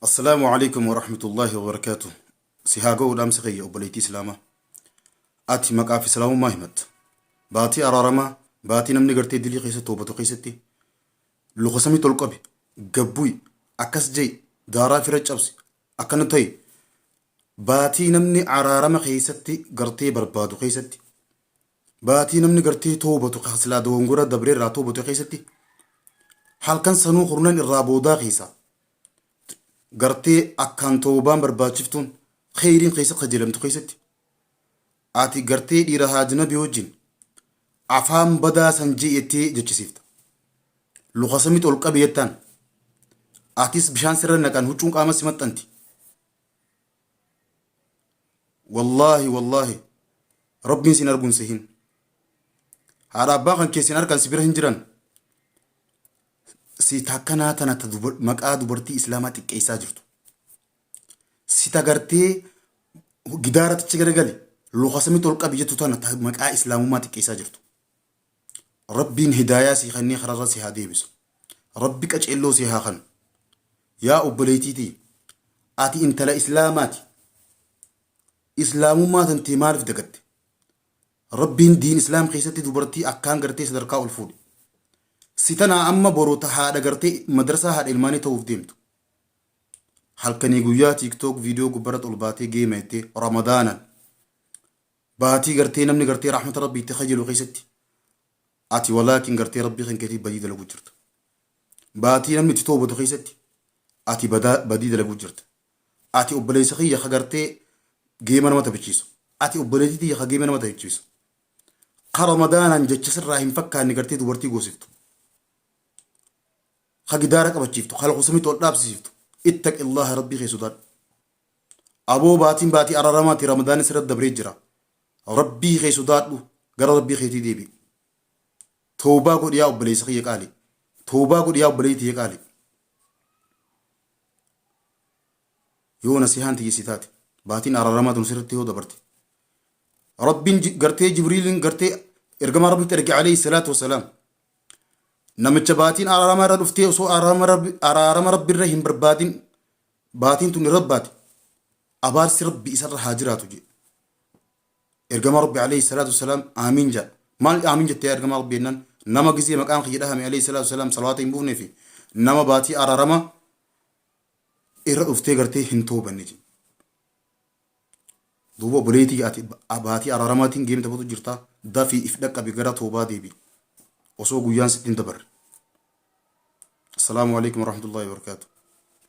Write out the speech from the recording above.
Assalaamu alaikum warahmatullahi wabarakatuh. Si haa ga'u dhaamsi kiyya obboleettii Islaamaa. Ati maqaa fi Islaamummaa himatta. Baatii araaramaa, baatii namni gartee dilii keessa toobatu keessatti luka samii tol qabi, gabbu'i, akkas je'i, daaraa fira cabsi, akkana ta'i. Baatii namni araarama keessatti gartee barbaadu keessatti Baatii namni gartee toobatu ka silaa dogongora dabre irraa toobate keessatti halkan sanuu kurnan irraa boodaa keessa gartee akkaan toobaan barbaachiftuun kheyriin keessa kajeelamtu keessatti ati gartee dhiira haajnabi wajjin afaan badaa san je'ettee jechisiifta. Luka samit ol qabi jettaan. Atis bishaan sirra naqan huccuun qaama si maxxanti. wallaahi wallaahi rabbiin sin arguun sehin haadha abbaa kan keessin harkaan si bira hin jiran si takkanaa tana ta dubar- maqaa dubartii islaamaa xiqqeessaa jirtu si tagartee gidaaratichi garagali lokasamitti ol qabi jettu tana ta maqaa islaamummaa xiqqeessaa jirtu Rabbiin hidaayaa sii kennee kararra si haa deebisu. Rabbi qaceelloo sii haa kanu. Yaa obboleeytii tiyya ati intala islaamaati. Islaamummaa tantee maaliif dagatte? Rabbiin diin islaam keessatti dubartii akkaan gartee sadarkaa ol fuudhe. Si tanaa amma boru ta haadha gartee madarsaa haadha ilmaanii ta'uuf deemtu. Halkanii guyyaa tiiktook viidiyoo gubbarra ol baatee geema jettee ramadaanan. Baatii gartee namni gartee rahmata rabbii itti kajalu keessatti ati walaakin gartee rabbii kan keetii badii dalaguu jirta. Baatii namni itti toobatu keessatti ati badaa badii dalaguu jirta. Ati obboleessa kiyya ka gartee geema nama taphachiisu. Ati obboleettii tiyya ka geema nama taphachiisu. Ka ramadaanaan jecha sirraa hin fakkaanne gartee dubartii goosiftu. Ka gidaara qabachiiftu, ka lakusamitti ol dhaabsisiiftu. Ittaqillaha rabbii kee sodaadhu. Aboo baatiin baatii araramaati ramadaanni sirra dabree jira rabbii kee sodaadhu gara rabbii keetii deebi'i tawbaa godhi yaa obboleessa kiyya qaali tawbaa godhi yaa obboleetti tiyya qaali yoo nasihaan tiyya si taate baatiin araramaa tun sirratti yoo dabarte rabbiin ji- gartee jibriiliin gartee ergamaa rabbitti erge alayhi salaatu wasalaam namicha baatiin araarama irra dhuftee osoo araarama rabbi araarama rabbi irra hin barbaadin Baatiin tuni Rabbaati, abaarsi Rabbi isarra haa jiraatu jedhe. Ergamaa Rabbi alayhi salaatu wassalaam aamiin jedha. Maal aamiin jette yaa ergamaa Rabbi jennaan nama gizee maqaan kiyya dhahame alayhi salaatu wassalaam salawaata hin buufne fi nama baatii araarama irra dhuftee gartee hin toobanne jedhe. Duuba obboleetii ati baatii araaramaatiin geem taphatu jirta dafii if dhaqqabi gara toobaa deebi. Osoo guyyaan sitti hin dabarre. Assalaamu alaikum warahmatullahi wabarakatuh.